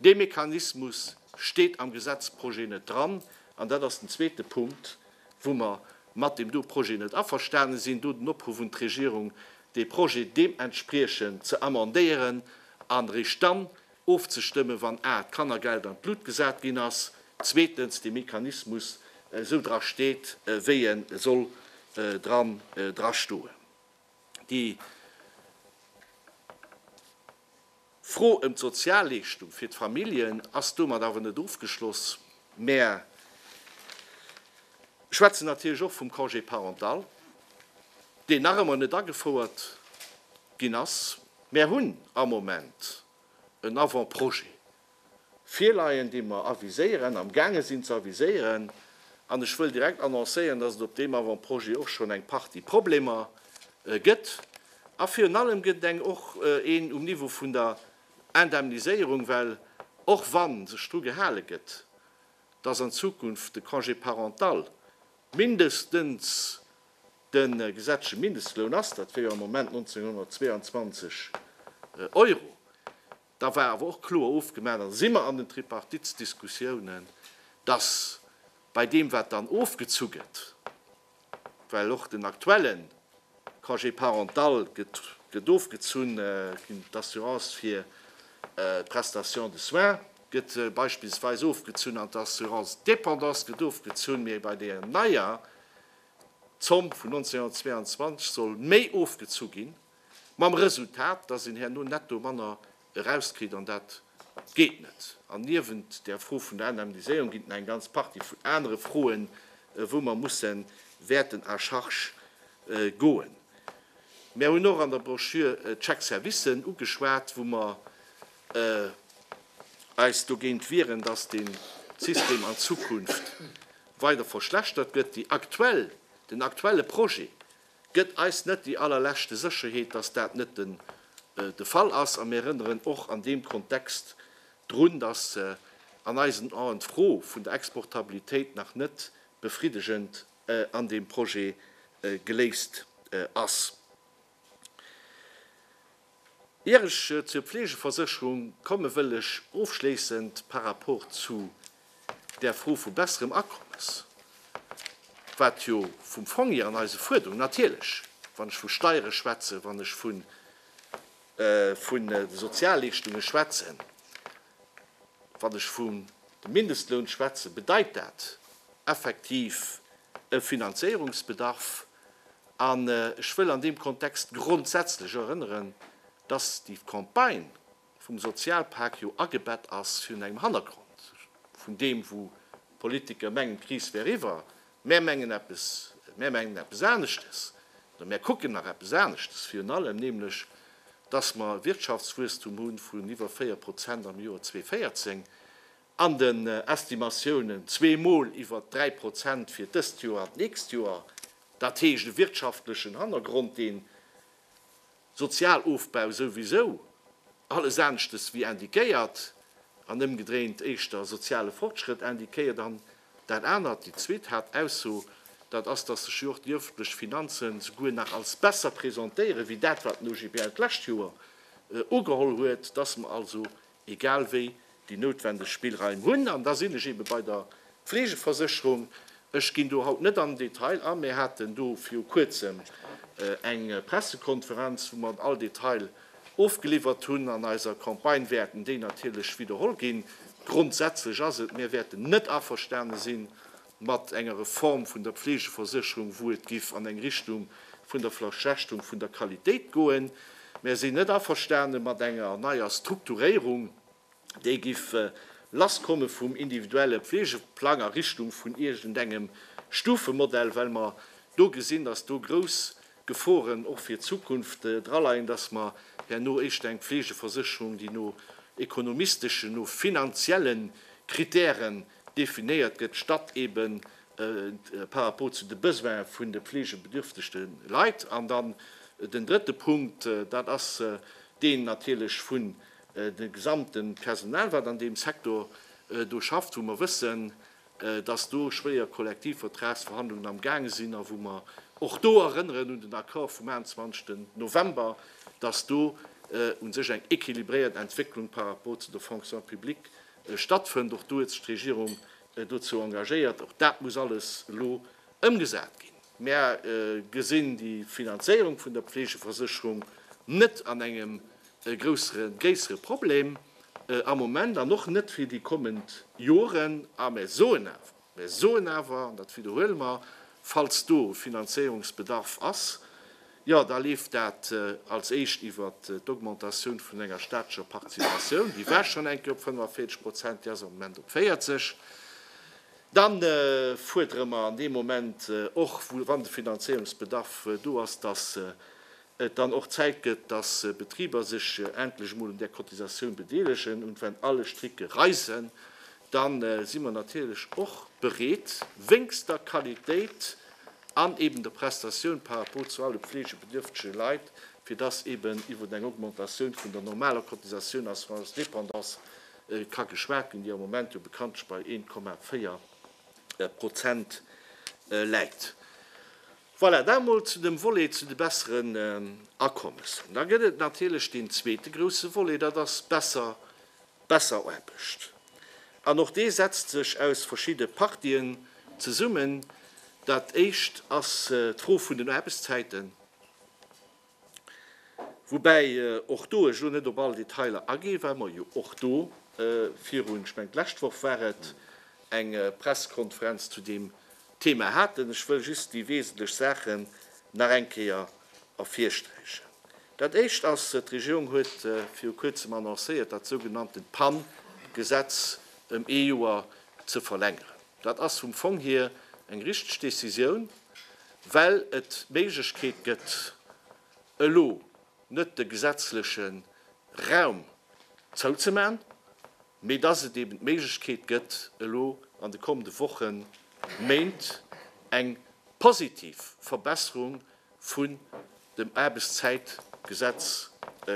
Dee Mechanismus steet am Gesetzprojet net dran, an dat ass den zweete Punkt, wou mer mat deem do Projet net averstane sinn. Do den Opruff un d'Regierung, dee Projet deementspriechend ze amendéieren an eréischt dann ofzestëmmen, wann a d'Kannergeld an d'Lut gesat ginn ass, zweetens dee Mechanismus esou dra steet, wéi e soll dran drastoen. Déi. D'Fro ëm d'Sozialleeschtung fir d'Familljen ass domat awer net ofgeschloss. Mär schwätzen natierlech och vum Congé parental, deen nach ëmmer net agefouert ginn ass. Mär hunn am Moment en Avant-projet virleien, déi mer aviséieren, am gaange sinn ze aviséieren. An ech wëll direkt annoncéieren, dass et op deem Avant-projet och schonn eng Partie Problemer gëtt. A virun allem gëtt et eng, och een um Niveau vun der Indemniséierung, well och wa sech dru gehale gëtt, dass an Zukunft de Congé parental mindestens de gesetzleche Mindestloun ass, dat wär jo am Moment 1.922 Euro, Da war awer och kloer ofgemaach, an da si mer an den Tripartitsdiskussiounen, dass bei deem wat dann ofgezu gëtt, well och den aktuelle Congé parental gëtt ofgezunn ginn, d'Assurance fir d'Prestation de soins gëtt beispillsweis ofgezunn an d'Assurance dépendance gëtt ofgezunn, mee bei där neier Zomm vun 1922 soll méi ofgezu ginn. Mam Resultat, dass een herno netto manner erauskritt, an dat geet net. An niewent där Fro vun der Indemniséierung ginn et nach eng ganz Partie vun anere Froen, wou mer musse wäerten à charge goen. Mär hunn och an der Brochure d'Chèques services ugeschwat, wou mer eis dogéint wieren, dass dee System an Zukunft weider verschlechtert gëtt. Déi aktuell, den aktuelle Projet Gëtt eis net déi allerleschte Sécherheet, dass dat net den de Fall ass. A mir erënneren och an deem Kontext drun, dass an eisen Aen d'Fro vun der Exportabilitéit nach net befriddegend an deem Projet geléist ass. Ier ech zur Pflegeversécherung komme wëll ech ofschléissend par rapport zu där Fro vu besserem Akommes, wat jo vum Fong hier an eise Fuerderungen natierlech, wann ech vu Steiere schwätzen, wann ech vu de Sozialleeschtunge schwätzen, wann ech vum dem Mindestloun schwätzen, bedeit dat effektiv e Finanzéierungsbedarf. An ech wëll an deem Kontext grondsätzlech erënneren, dass déi Campagne vum Sozialpak jo agebett ass virun engem Hannergrond vun deem, wou d'Politiker mengen, d'Kris wär eriwwer. Mär mengen eppes, mär mengen eppes aneschtes oder mär kucken nach eppes aneschtes, virun allem nämlech, dass mer e Wirtschaftswuesstum hu vun iwwer 4 Prozent am Joer 2014, An den Estimatiounen zwee Mol iwwert dräi Prozent fir dëst Joer an d'nächst Joer. Dat heescht e wirtschaftlechen Hannergrond, deen Sozialofbau souwisou alles aneschtes wéi indiquéiert an ëmgedréint éischter soziale Fortschrëtt indiquéiert. An dat anert, déi zweet Haaptausso, dat ass, datt sech jo och déi öffentlech Finanzen souguer nach als besser presentéieren wéi dat, wat den OGBL d'lescht Joer ugeholl huet, datt mer also egal wéi, déi noutwendeg Spillraim hunn. An da sinn ech eebe bei der Fleegeversécherung. Ech ginn do haut net an den Detail a. Mir haten do viru Kuerzem eng Pressekonferenz, wou mer all Detail ofgeliwwert hunn. An eiser Campagne wäerten déi natierlech widderholl ginn. Grondsätzlech ass et, mir wäerten net averstane sinn, mat enger Reform vun der Pflegeversécherung, wou et giff an eng Richtung vun der Verschlechterung vun der Qualitéit goen. Mär sinn net averstane mat enger neier Strukturéierung, déi giff lass komme vum individuelle Pflegeplang a Richtung vun iergendengem Stufemodell, well mer do gesinn, dass do grouss Geforen och fir d'Zukunft draleien, dass mer herno éischter eng Pflegeversécherung, déi no ekonomisteschen, no finanzielle Kritäre Definéiert gëtt d'Stadt eebe par rapport zu de Besoins vun de fleegebedürftegte Leit. An dann den drëtte Punkt, dat ass deen natierlech vun de gesamte Personal, wat an deem Secteur do schafft, wou mer wëssen, dass do schwéier Kollektivvertragsverhandlungen am gaange sinn a wou mer och do erënneren un den Accord vum 21. November, dass do u sech eng équilibréiert Entwécklung par rapport zu der Fonction publique stattfënnt. Och do huet sech d'Regierung dozou engagéiert. Och dat muss alles elo ëmgesat ginn. Mär gesinn déi Finanzéierung vun der Pflegeversécherung net an engem gréissere Problem am Moment an och net fir déi kommend Joren. A mär soen awer, Mir soen awer, an dat widderhuele mer, falls do Finanzéierungsbedarf ass, jo, da leeft dat als éischt iwwer d'Augmentatioun vun enger staatlecher Participatioun, déi war schonn eng Kéier op 45 Prozent, déi ass am Moment op 40, dann fuerdere mer an deem Moment och, wann de Finanzéierungsbedarf do ass, dass et dann och Zäit gëtt, dass Betriber sech endlech emol un där Cotisatioun bedeelegen, und wenn alle Stricke reissen, dann si mer natierlech och bereet, wéngst der Qualitéit an eben der Prestatioun par rapport zu alle pflegebedürftege Leit, fir dass eben iwwer eng Augmentatioun vun der normaler Cotisatioun assurance dépendance ka geschwat ginn, déi am Moment jo bekanntlech bei 1,4 Prozent läit. Voilà, dat emol zu dem Volet zu de besseren Akommessen. Da gëtt et natierlech deen zweete grouse Volet, dat ass besser, besser Aarbecht. An och dee setzt sech aus verschidde Partien zesummen. Dat Éischt ass d'Fro vun den Aarbechtszäiten. Woubäi och do ech elo net op all Detailer agee well mer jo och do virun, ech mengen d'lescht Woch war et, eng Pressekonferenz zu deem Thema haten. Ech wëll just déi wesentlech Saachen nach eng Kéier ervirsträichen. Dat Éischt ass, d'Regierung huet viru Kuerzem annoncéiert, dat sougenannten PAN-Gesetz ëm ee Joer ze verlängeren. Dat ass vum Fong hier eng richteg Décisioun, well et d'Méiglechkeet gëtt, elo net de gesetzleche Raum zouzemaachen, mee dass et eeben d'Méiglechkeet gëtt, elo an de kommende Wochen, Méint eng positiv Verbesserung vun dem Aarbechtszäitgesetz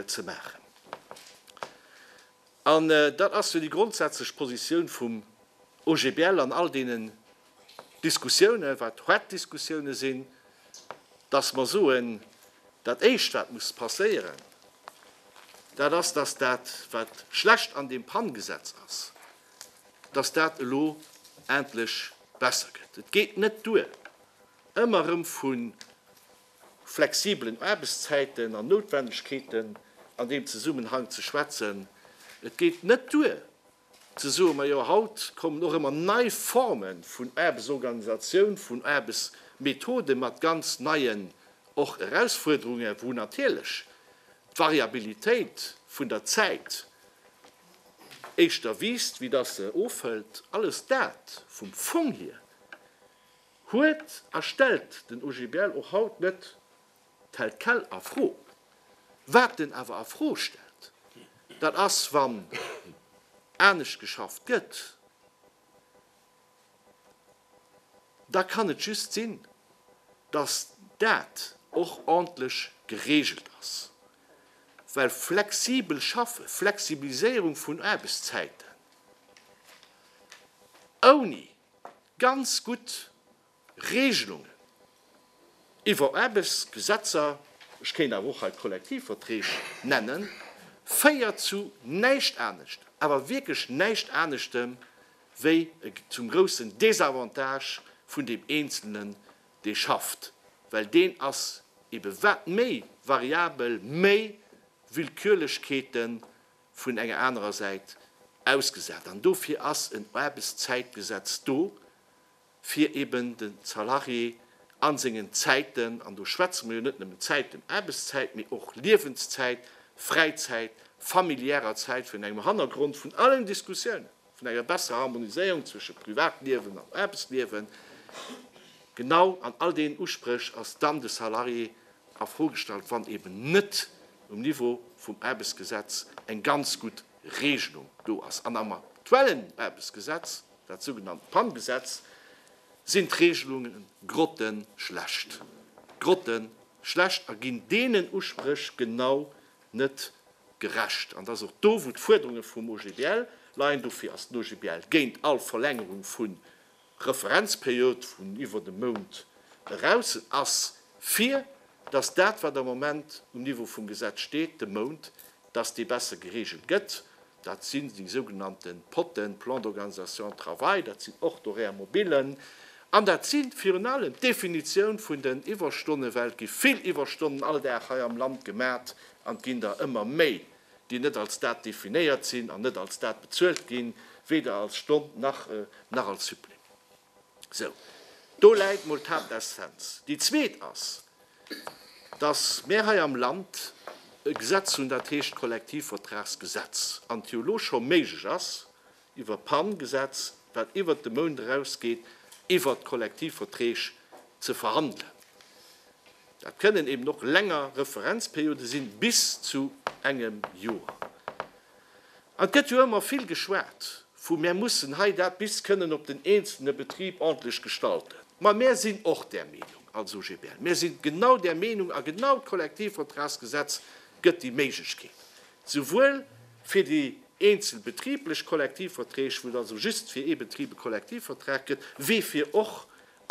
ze maachen. An dat ass jo déi grondsätzlech Positioun vum OGBL an all deenen Diskussiounen, wat hart Diskussiounen sinn, dass mer soen, dat Éischt, wat muss passéieren, dat ass, dass dat, wat schlecht an deem PAN-Gesetz ass, dass dat elo endlech besser gëtt. Et geet net duer, ëmmer erëm vu flexibelen Aarbechtszäiten an Noutwendegkeeten an deem Zesummenhang ze schwätzen. Et geet net duer ze soen, majo haut kommen och ëmmer nei Forme vun Aarbechtsorganisatioun, vun Aarbechtsmethode mat ganz neien och Erausfuerderungen, wou natierlech d'Variabilitéit vun der Zäit éischter wiisst wéi dass se ofhëlt. Alles dat vum Fong hier. Huet a stellt den OGBL och haut net tel quel a Fro. Wat en awer a Fro stellt, dat ass, wann anescht geschafft gëtt, da kann et just sinn, dass dat och ordntlech geregelt ass, well flexibel Schaffe, Flexibiliséierung vun Aarbechtszäiten, ouni ganz gutt Regelungen iwwer Aarbechtsgesetzer, ech kéint awer och hei d'Kollektivverträg nennen, féiert zu näischt anescht, awer wierklech näischt aneschtem, wéi zum groussen Désavantage vun deem Eenzelnen, dee schafft, well deen ass ebe wat méi variabel, méi Willkürlechkeete vun enger anerer Säit ausgesat. An dofir ass en Aarbechtszäitgesetz do, fir eben de Salarié a sengen Zäiten, an do schwätze mer jo net nëmmen Zäiten, Aarbechtszäit, mee och Liewenszäit, Fräizäit, familiärer Zäit, virun engem Hannergrond vun allen Diskussiounen, vun enger besserer Harmoniséierung zwësche Privatliewen an Aarbechtsliewen, genau an all deenen Uspréch ass dann de Salarié a Fro gestallt, wann eben net um Niveau vum Aarbechtsgesetz eng ganz gutt Regelung do ass. An am aktuellen Aarbechtsgesetz, dat sougenannt PAN-Gesetz, sinn d'Regelunge grottenschlecht, grottenschlecht a ginn deenen Uspréch genau net gerecht. An et ass och do, wou d'Fuerderunge vum OGBL leien. Dofir ass den OGBL géint all Verlängerung vu Referenzperiode vun iwwert e Mount eraus. En ass fir, dass dat, wat am Moment um Niveau vum Gesetz steet, de Mount, dass dee besser geregelt gëtt. Dat sinn déi sougenannte Potten, Plans d'organisation de travail, dat sinn och d'Horaires mobiles an dat si virun allem d'Definitioun vun den Iwwerstonne, well et gi vill Iwwerstonnen all Dag hei am Land gemat an et ginn der ëmmer méi, déi net als dat definéiert sinn an net als dat bezuelt ginn, weder als Stonn nach als Supplément. Sou, do läit mol d'Haaptessenz. Déi zweet ass, dass mär hei am Land e Gesetz hunn, dat heescht Kollektivvertragsgesetz, an et jo elo scho méiglech ass, iwwer d'PAN-Gesetz, wat iwwert de Mount erausgeet, iwwert d'Kollektivverträg ze verhandelen. Dat kënnen eben och länger Referenzperiode sinn, bis zu engem Joer. Et gëtt jo ëmmer vill geschwat vu mär mussen hei dat bis kënnen op den eenzelne Betrib ordntlech gestalten. Ma mär sinn och där Meenung als OGBL, mär si genau där Meenung a genau d'Kollektivvertragsgesetz gëtt déi Méiglechkeet, souwuel fir déi eenzel betriblech Kollektivverträg, wou et also just fir ee Betrib e Kollektivvertrag gëtt, wéi fir och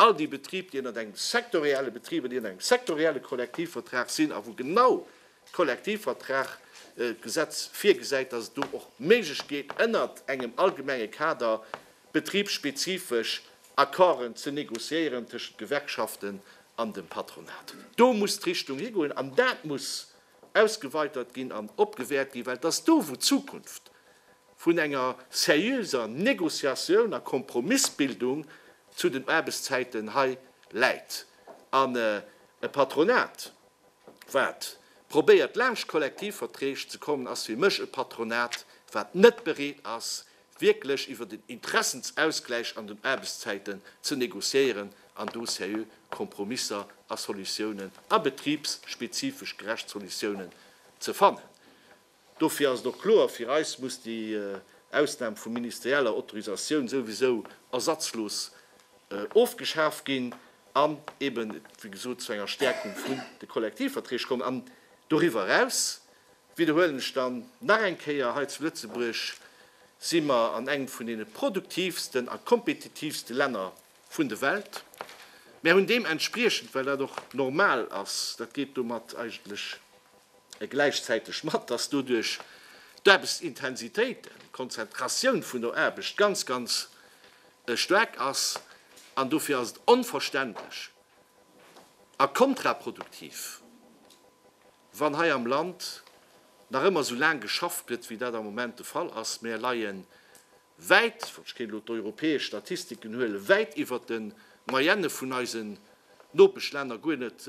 all déi Betrib, déi ënnert engem sektorielle Betrib, déi ënnert engem sektorielle Kollektivvertrag sinn a wou genau D'Kollektivvertrag Gesetz virgesäit, dass et do och d'Méiglechkeet ënnert engem allgemenge Kader betribsspezifesch Accorden ze négociéieren tëschent d'Gewerkschaften an dem Patronat. Do muss d'Richtung higoen an dat muss ausgeweitert ginn an opgewäert ginn, well et ass do wou d'Zukunft vun enger seriöser Négociatioun a Kompromissbildung zu den Aarbechtszäiten hei läit. An e Patronat wat probéiert laanscht Kollektivverträg ze kommen, ass fir mech e Patronat, wat net bereet ass, wierklech iwwer den Interessensausgläich an den Aarbechtszäiten ze négociéieren an do seriö Kompromisser a Solutiounen a betribsspezifesch gerecht Solutiounen ze fannen. Dofir ass et och kloer, fir eis muss déi Ausnam vu ministerieller Autorisatioun souwisou ersatzlos ofgeschaf ginn an eben, wéi gesot, zu enger Stärkung vun de Kollektivverträg kommen. An doriwwer eraus, widderhuelen ech dann nach eng Kéier, hei zu Lëtzebuerg si mer an engem vun deene produktivsten a kompetitivste Länner vun de Welt. Mär hunn deementspriechend, well dat och normal ass, dat geet domat eigentlech, gläichzäiteg mat, dass doduerch d'Aarbechtsintensitéit, d'Konzentratioun vun der Aarbecht ganz, ganz staark ass. An dofir ass et onverständlech a kontraproduktiv, wann hei am Land nach ëmmer esou laang geschafft gëtt, wéi dat am Moment de Fall ass. Mär leie wäit, ech kéint elo d'europäesch Statistiken huelen, wäit iwwert de Moyenne vun eisen Nopeschlänner, guer net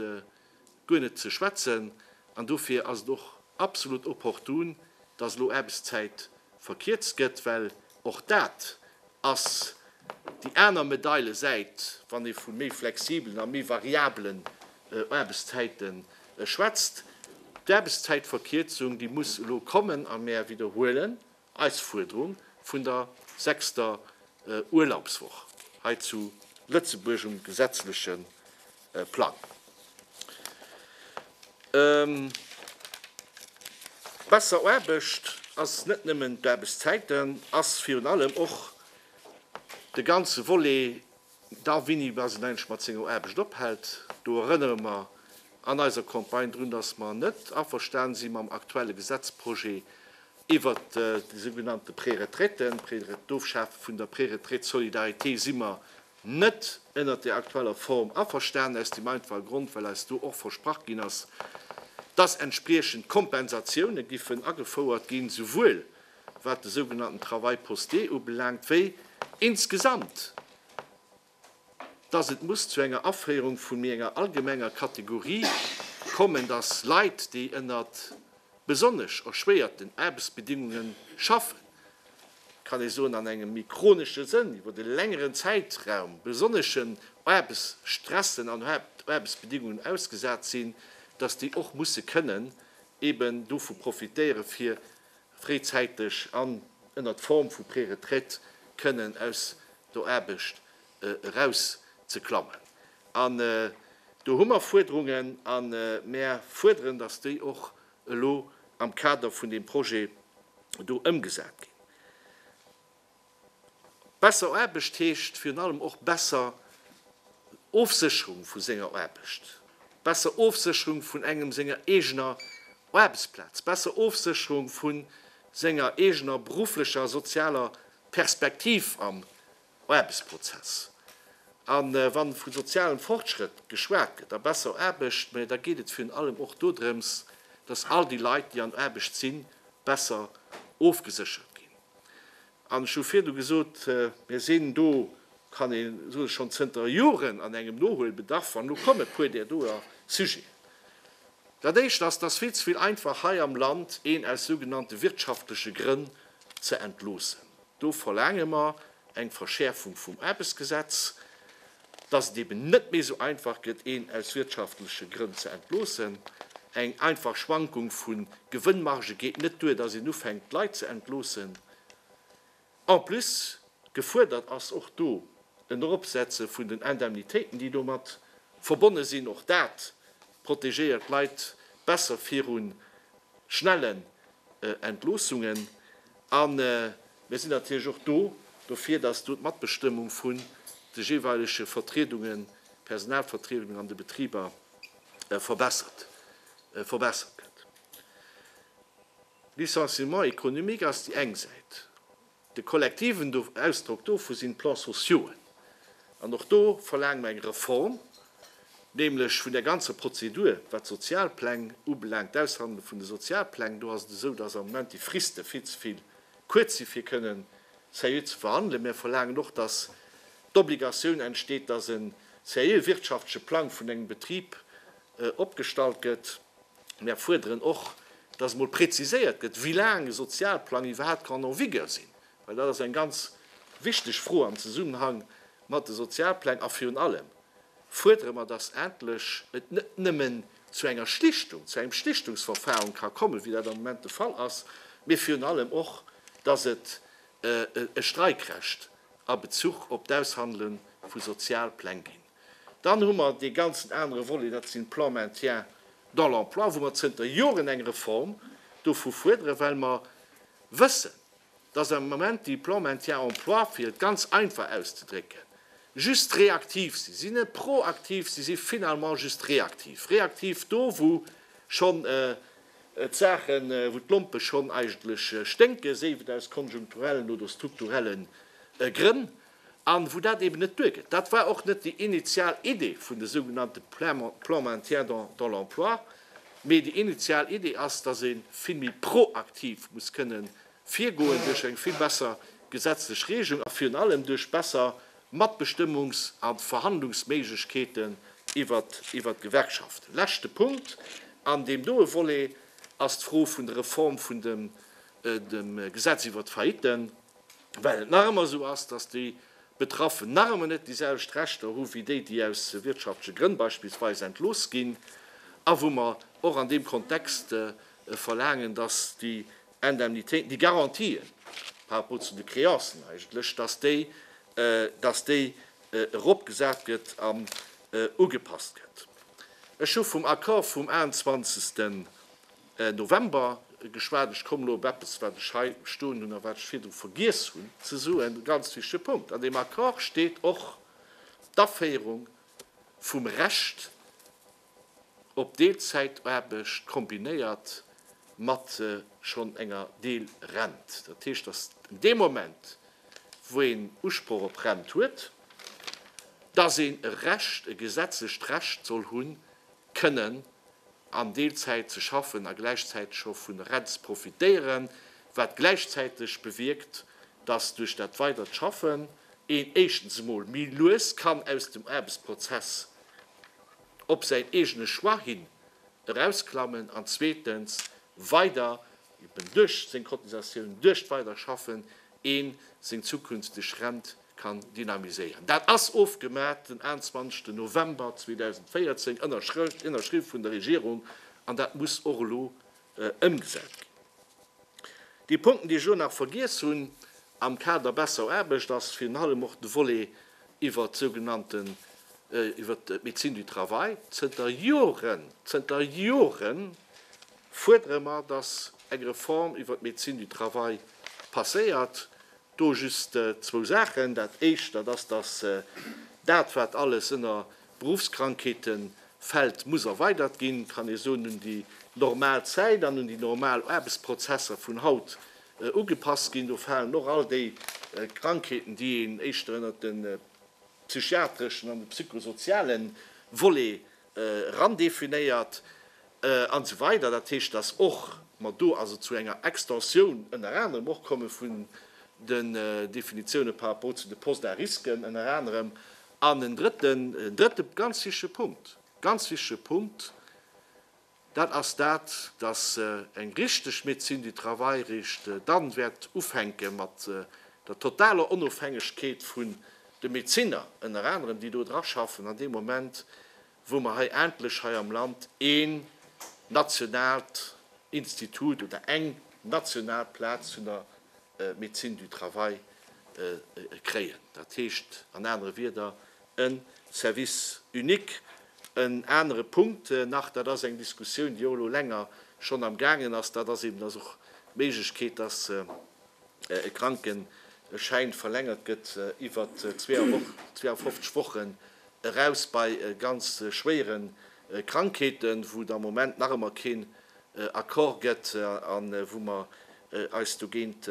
guer net ze schwätzen, an dofir ass et och absolut opportun, dass elo Aarbechtszäit verkierzt gëtt, well och dat ass déi aner Medailesäit, wann ee vu méi flexibelen a méi variabelen Aarbechtszäite schwätzt. D'Aarbechtszäitverkierzung, déi muss elo kommen, a mär widderhuelen, Eis Fuerderung vun der sechster Urlaubswoch hei zu Lëtzebuerg um gesetzleche Plang. Besser Aarbecht ass net nëmmen d'Aarbechtszäiten, ass virun allem och de ganze Volet D'Darwinny bal sinn eigentlech mat senger Aarbecht ophält. Do erënnere mer an eiser Campagne drun, dass mer net averstane si mam aktuelle Gesetzprojet iwwert déi sougenannte Préretraiten, d'Ofschafe vun der Préretraite Solidarité si mer net ënnert där aktueller Form averstanen, aus deem einfache Grond, well eis do och versprach ginn ass, dass entspriechend Kompensatioune giffen agefouert ginn, souwuel wat de sougenannten Travail posté ubelaangt, wéi insgesamt, dass et muss zu enger Aféierung vu méi enger allgemenger Kategorie kommen, dass Leit, déi ënner besonnesch erschwéierten Aarbechtsbedingunge schaffen, kann ee soen, an engem méi chronesche Sënn, iwwer e längeren Zäitraum besonneschen Aarbechtsstressen an Aarbechtsbedingungen ausgesat sinn, dass déi och musse kënnen eeben dovu profitéieren, fir fréizäiteg an ënnert Form vu Préretraite kënnen aus der Aarbecht erauszeklammen. An do hu mer Fuerderungen a mer fuerderen, dass déi och elo am Kader vun deem Projet do ëmgesat ginn. Besser Aarbecht heescht virun allem och besser Ofsécherung vu senger Aarbecht, besser Ofsécherung vun engem senger eegener Aarbechtsplaz, besser Ofsécherung vu senger eegener berufflecher a sozialer Perspektiv am Aarbechtsprozess. A wa vu sozialem Fortschrëtt geschwat gëtt a besser Aarbecht, mä da geet et virun allem och dodrëms, datt all déi Leit, déi an Aarbecht sinn, besser ofgeséchert ginn. An ech hu virdu gesot, mir sinn do, kann ee soe schonn zënter Joren an engem Nohuelbedarf. An elo kommen e puer där doer Sujeten. Dat Éischt ass, dass vill ze vill einfach hei am Land een aus sougenannte wirtschaftleche Grënn ze entloossen. Do verlaange mer eng Verschäerfung vum Aarbechtsgesetz. dass et eben net méi esou einfach gëtt, een aus wirtschaftleche Grënn ze entloossen. Eng einfach Schwankung vu Gewënnmarge geet net duer, dass een ufänkt, d'Leit ze entloossen. En plus, gefuerdert ass och do en Eropsetze vun den Indemnitéiten, déi domat verbonne sinn. Och dat protegéiert d'Leit besser virun schnellen Entloossungen. A mir sinn natierlech och do dofir, datt do d'Matbestëmmung vun de jeeweilege Vertriedungen, Personalvertriedungen an de Betriber verbessert gëtt. Licenciement économique ass déi eng Säit. De kollektiven Ausdrock dovu sinn d'Plans sociauxen. An och do verlaange mer eng Reform, nämlech vun der ganzer Prozedur, wat d'Sozialpläng ubelaangt, d'Aushandele vun de Sozialpläng. Do ass et esou, dass am Moment déi Friste vill ze vill kuerz sinn, fir kënnen seriö ze verhandelen. Mer verlaangen och, dass d'Obligatioun entsteet, dass e seriö wirtschaftleche Plang vun engem Betrib opgestallt gëtt. Mär fuerderen och, dass emol präziséiert gëtt, wéi laang e Sozialplang iwwerhaapt kann en vigueur sinn, well dat ass eng ganz wichteg Fro am Zesummenhang mat de Sozialpläng. A virun allem fuerdere mer, dass endlech et net nëmmen zu enger Schlichtung, zu engem Schlichtungsverfahren ka kommen, wéi dat am Moment de Fall ass, mee virun allem och, dass et e Streikrecht a Bezuch op d'Aushandele vu Sozialpläng ginn. Dann hu mer dee ganzen anere Volet, dat sinn d'Plans maintien dans l'emploi, wou mer zënter Joren eng Reform dovu fuerderen, well mer wëssen, dass am Moment déi Plans maintien emploi, fir et ganz einfach auszedrécken, just reaktiv sinn. Si sinn net proaktiv, si si finalement just reaktiv. Reaktiv do, wou schonn d'Saachen, wou d'Lompe schonn eigentlech sténken, séif et aus konjunkturellen oder strukturelle Grënn. A wou dat eeben net duergeet, dat war och net déi initial Idee vun de sougenannte Plan maintien dans l'emploi, mee déi initial Idee ass, dass ee vill méi proaktiv muss kënne virgoen duerch eng vill besser gesetzlech Regelung a virun allem duerch besser Matbestëmmungs a Verhandlungsméiglechkeeten iwwert d'Gewerkschaften. Leschte Punkt an deem doe Volet ass d'Fro vun der Reform vun dem Gesetz iwwert d'Failliten. Well et nach ëmmer esou ass, datt déi Betraffen nach ëmmer net déi selwecht Rechter hu wéi déi, déi aus wirtschaftleche Grënn beispillsweis entlooss ginn, a wou mer och an deem Kontext verlaangen, datt déi Indemnitéiten, déi Garantien par rapport zu de Créancen eigentlech, datt déi, datt déi eropgesat gëtt an ugepasst gëtt. Ech hu vum Accord vum 21. November geschwat. Ech komme elo op eppes, wat ech hei stoen hunn a wat ech virdru vergiess hunn ze soen, e ganz wichtige Punkt. An deem Accord steet och d'Aféierung vum Recht op Deelzäitaarbecht kombinéiert mat schonn enger Deelrent. Dat heescht, datt een dee Moment, wou een Usproch op Rent huet, datt een e Recht, e gesetzlecht Recht soll hunn, kënnen an Deelzäit ze schaffen a gläichzäiteg och vun der Rent ze profitéieren, wat gläichzäiteg bewierkt, dass duerch dat weidert Schaffen een éischtens emol méi lues kann aus dem Aarbechtsprozess op säin eegene Choix hin erausklammen an zweetens weider eben duerch seng Cotisatiounen, duerch d'Weiderschaffen, ee seng zukünfteg Rent kann dynamiséieren. Dat ass ofgemat den 21 November 2014, ënnerschriww vun der Regierung, an dat muss och elo ëmgesat ginn. Déi Punkten, déi ech elo nach vergiess hunn am Kader besser Aarbecht, ass virun allem och de Volet iwwert d'sougenannten, iwwert d'Médecine du travail. Zënter Joren, zënter Jore fuerdere mer, dass eng Reform iwwert d'Médecine du travail passéiert. Do just zwou Saachen. Dat Éischt, dat ass, dass dat, wat alles ënner Beruffskrankheete fält, muss erweidert ginn, kann ee soen, un déi normal Zäit an un déi normal Aarbechtsprozesser vun haut ugepasst ginn. Do falen och all déi Krankheeten, déi een éischter ënnert de psychiatreschen an de psychosoziale Volet erandefinéiert an esou weider Dat heescht, dass och mer do also zu enger Extensioun ënner anerem och komme vun den Definitiounen par rapport zu de Postes à risques ënner anerem. An en drëtten, en drëtte ganz wichtige Punkt, ganz wichtige Punkt, Dat ass dat, dass eng richteg Médecine du travail eréischt dann wäert ufänke mat der totaler Onofhängegkeet vun de Medezinner, ënner anerem, déi do dra schaffen, an deem Moment, wou mer hei endlech hei am Land een nationaalt Institut oder eng national Plaz vun der Médecine du travail kréien. Dat heescht an anere Wieder, E Service unique, en anere Punkt nach, dat ass eng Diskussioun, déi och elo länger schonn am gaangen ass, dat ass eben, dass och d'Méiglechkeet, dass e Krankenschäin verlängert gëtt iwwer 52 Wochen eraus bei ganz schwéiere Krankheeten, wou et am Moment nach ëmmer keen Accord gëtt a wou mer eis dogéint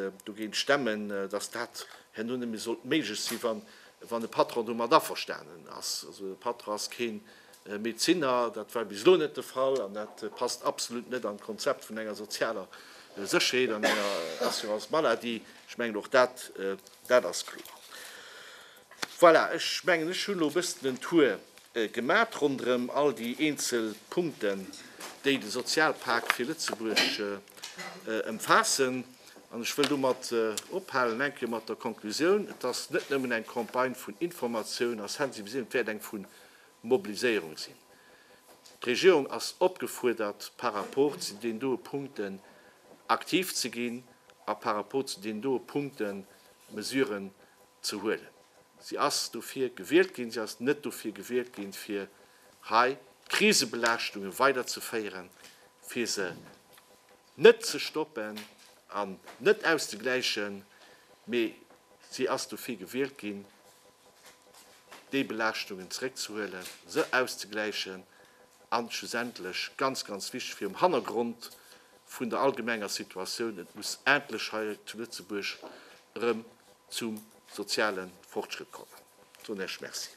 stemmen, dass dat herno net méi sollt méiglech sinn, wann e Patron domat averstanen ass. Also e Patron ass kee Médeciner, dat war bis elo net de Fall an dat passt absolut net an d'Konzept vun enger sozialer Sécherheet an enger Assurance maladie. Ech mengen, och dat ass kloer. Voilà, ech mengen, ech hunn elo e bëssen en Tour gemat ronderëm all déi eenzel Punkten, déi de Sozialpak fir Lëtzebuerg ëmfaassen. An ech wëll domat ophalen, enke mat der Konklusioun, Et ass net nëmmen eng Campagne vun Informatioun a Sensibiliséierung, et wäert eng vu Mobiliséierung sinn. D'Regierung ass opgefuerdert, par rapport zu deenen doe Punkten aktiv ze ginn a par rapport zu deenen doe Punkten Mesuren ze huelen. Si ass dofir gewielt ginn. Si ass net dofir gewielt ginn, fir hei d'Krisebelaaschtungen weiderzeféieren, fir se net ze stoppen an net auszegläichen, mee si ass dofir gewielt ginn, déi Belaaschtungen zeréckzehuelen, se auszegläichen a schlussendlech, ganz, ganz wichteg, virum Hannergrond vun der allgemenger Situatioun, et muss endlech hei zu Lëtzebuerg erëm zum soziale Fortschritt kommen. Ech soen Iech Merci.